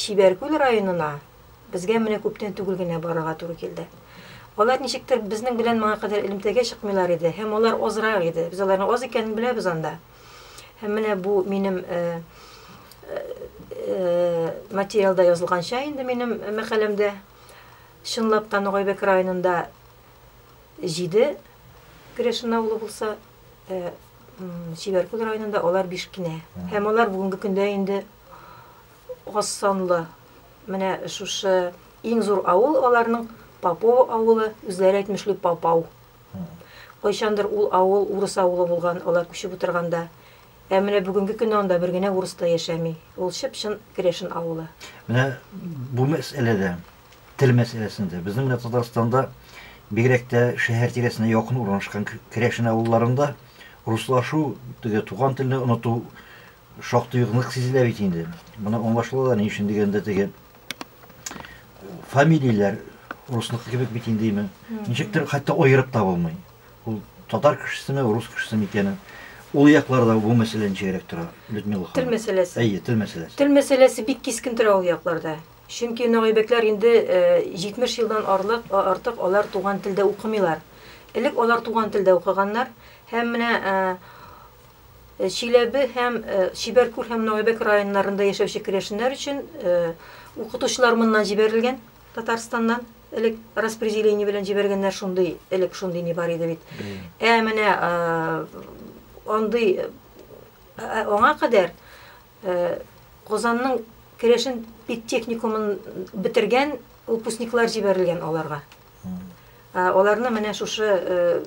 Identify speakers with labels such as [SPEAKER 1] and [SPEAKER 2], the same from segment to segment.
[SPEAKER 1] Чибәркүл районына безгә менә күптән түгел генә барырга туры килде. Алар ничектер безнең белән моңа кадәр элемтәгә чыкмыйлар иде һәм алар азрак иде. Без аларның аз икәнен беләбез анда. Һәм менә бу минем материалда язылганча инде минем мәкаләмдә чынлап та Ногайбәк районында җиде Грешин авылы булса, Чибәркүл районында алар биш кенә. Һәм алар бүгенге көндә инде аз санлы. Менә шушы иң зур авыл аларның Попово авылы, үзләре әйтмешли Папау. Кайчандыр ул авыл урыс авылы булган, алар күчеп утырганда. Ә менә бүгенге көндә анда бер генә урыс та яшәми. Ул чып-чын керәшен авылы. Менә бу мәсьәләдә, тел мәсьәләсендә безнең менә Татарстанда бигрәк тә шәһәр тирәсенә якын урнашкан керәшен авылларында руслашу, теге туган телне оныту Шактый ук нык сизелә бит инде. Моны аңлашыла да, ни өчен дигәндә, теге фамилияләр русныкы кебек бит индеме. Ничектер хәтта аерып та булмый. Ул татар кешесеме, рус кешесеме икәнен. Ул якларда бу мәсьәлә ничегрәк тора, Людмила ханым? Тел мәсьәләсе. Әйе, тел мәсьәләсе. Тел мәсьәләсе бик кискен тора ул якларда. Чөнки нагыйбәкләр инде 70 э, елдан арлык, артык алар туган телдә укымыйлар. Элек алар туган телдә укыганнар һәм менә э, Чиләбе һәм Чибәркүл һәм Нагайбәк районнарында яшәүче керәшеннәр өчен укытучылар моннан җибәрелгән, Татарстаннан элек распределение белән җибәргәннәр шундый, элек шундый ни бар иде бит. Ә менә андый аңа кадәр Казанның керәшен педтехникумын бетергән выпускниклар җибәрелгән аларга. Аларны менә шушы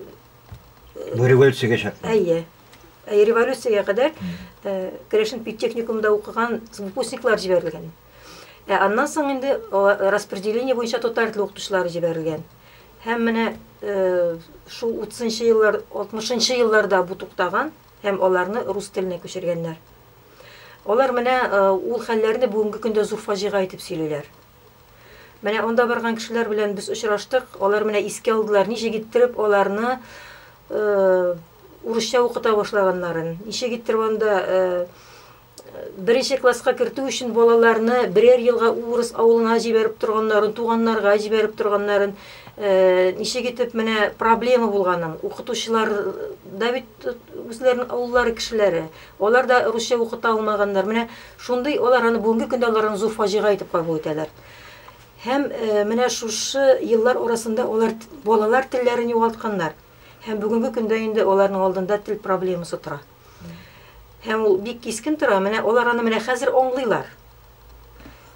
[SPEAKER 1] Бу революциягә чакта. Әйе. Әйе, революциягә кадәр керәшен педтехникумда укыган выпускниклар җибәрелгән. Ә аннан соң инде распределение буенча татар теле укытучылары җибәрелгән. Һәм менә шул 30 нчы еллар, 60 нчы елларда бу туктаган. һәм аларны рус теленә күчергәннәр. Алар менә ул хәлләрне бүгенге көндә зур фаҗига итеп сөйлиләр. Менә анда барган кешеләр белән без очраштык, алар менә искә алдылар, ничек иттереп аларны урысча укыта башлаганнарын, ничек иттереп анда Беренче класска кертү өчен балаларны берәр елга урыс авылына җибәреп торганнарын, туганнарга җибәреп торганнарын, ничек итеп менә проблема булганын, укытучылар да бит үзләренең авыллары кешеләре, алар да русча укыта алмаганнар. Менә шундый алар аны бүгенге көндә алар аны зур фаҗига итеп кабул итәләр. Һәм менә шушы еллар арасында алар балалар телләрен югалтканнар. Һәм бүгенге көндә инде аларның алдында тел проблемасы тора. Һәм ул бик кискен тора. Менә алар аны менә хәзер аңлыйлар.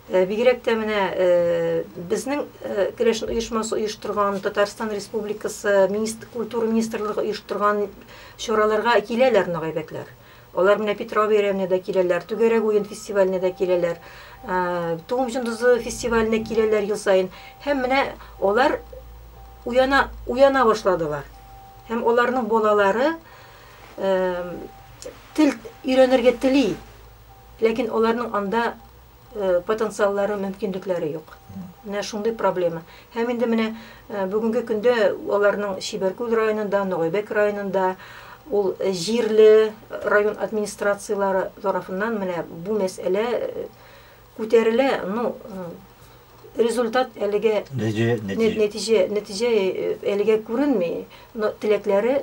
[SPEAKER 1] Э, бигрәк тә менә э, безнең э, керәшен оешмасы оештырган татарстан республикасы культура министрлыгы оештырган чараларга киләләр мына гайбәтләр алар менә петрова бәйрәменә дә киләләр түгәрәк уен фестиваленә дә киләләр туым җондызы фестиваленә киләләр ел саен һәм менә алар уяна уяна башладылар һәм аларның балалары тел өйрәнергә тели, ләкин аларның анда потенциаллары, мөмкинлекләре юк. Менә шундый проблема. Һәм инде менә бүгенге көндә аларның Чибәркүл районында, Ногайбәк районында ул җирле район администрацияләре тарафыннан менә бу мәсьәлә күтәрелә, ну результат әлегә нәтиҗә нәтиҗә әлегә күренми, но теләкләре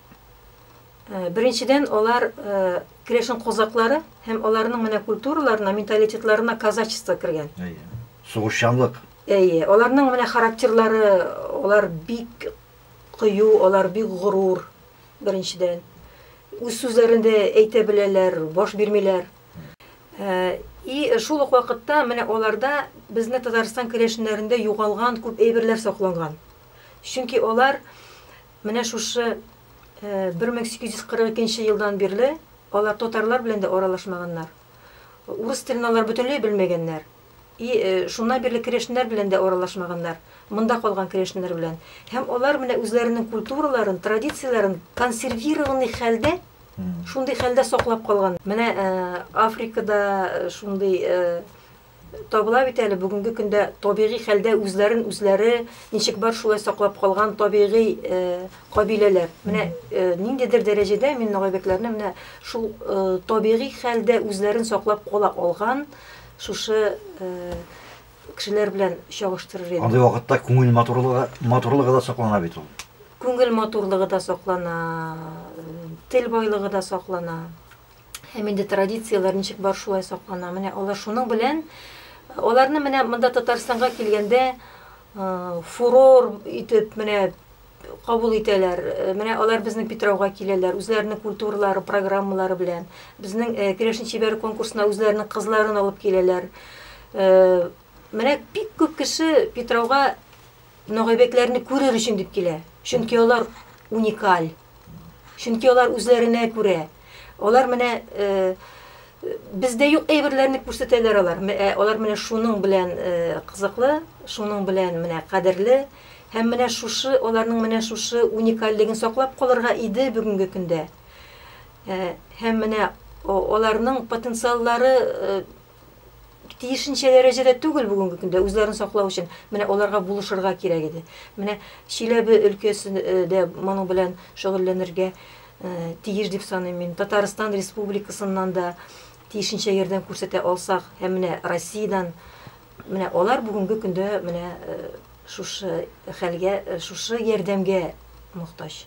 [SPEAKER 1] Э, беренчедән алар э, крешин козаклары һәм аларның менә культураларына менталитетларына казачество кергән сугышчанлык әйе аларның менә характерлары алар бик кыю алар бик горур беренчедән үз сүзләрен дә әйтә беләләр баш бирмиләр э, и шул ук вакытта менә аларда безне татарстан керәшеннәрендә югалган күп әйберләр сакланган чөнки алар Менә шушы 1842 нче елдан бирле алар татарлар белән дә аралашмаганнар. Урыс телен алар бөтенләй белмәгәннәр. И шуннан бирле керәшеннәр белән дә аралашмаганнар, монда калган керәшеннәр белән. Һәм алар менә үзләренең культураларын, традицияләрен консервированный хәлдә, шундый хәлдә саклап калган. Менә Африкада шундый Табыла бит әле бүгенге көндә табигый хәлдә үзләрен үзләре ничек бар шулай саклап калган табигый кабиләләр. Менә ниндидер дәрәҗәдә мин нагайбекләрне менә шул табигый хәлдә үзләрен саклап кала алган шушы кешеләр белән чагыштырыр идем. Андый вакытта күңел матурлыгы, матурлыгы да саклана бит ул. Күңел матурлыгы да саклана, тел байлыгы да саклана. Һәм инде традицияләр ничек бар шулай саклана. Менә алар шуның белән аларны менә монда Татарстанга килгәндә фурор итеп менә кабул итәләр. Менә алар безнең Питрауга киләләр, үзләренең культуралары, программалары белән. Безнең Керәшен чибәре конкурсына үзләренең кызларын алып киләләр. Менә бик күп кеше Питрауга Ногайбәкләрне күрер өчен дип килә. Чөнки алар уникаль. Чөнки алар үзләренә күрә. Алар менә бездә юк әйберләрне күрсәтәләр алар. Ә алар менә шуның белән кызыклы, шуның белән менә кадерле. Һәм менә шушы аларның менә шушы уникальлеген саклап калырга иде бүгенге көндә. Һәм менә аларның потенциаллары тиешенчә дәрәҗәдә түгел бүгенге көндә үзләрен саклау өчен менә аларга булышырга кирәк иде менә чиләбе өлкәсендә э, моның белән шөгыльләнергә э, тиеш дип саныйм мин татарстан республикасыннан да тиешенчә ярдәм күрсәтә алсак һәм менә россиядән менә алар бүгенге көндә менә э, шушы хәлгә шушы ярдәмгә мохтаҗ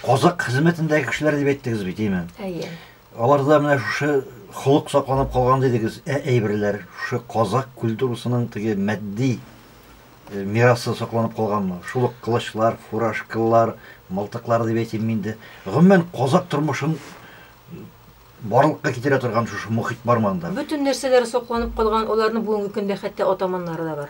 [SPEAKER 1] казак хезмәтендәге кешеләр дип әйттегез бит әйе Аларда менә шушы холык сакланып калган дидегез, ә әйберләр, шушы казакъ культурасының теге матди мирасы сакланып калганмы? Шул ук кылычлар, фуражкалар, мылтыклар дип әйтим мин дә. Гомумән, казакъ тормышын барлыкка китерә торган шушы мохит бармы анда? Бөтен нәрсәләре сакланып калган, аларның бүгенге көндә хәтта атаманнары да бар.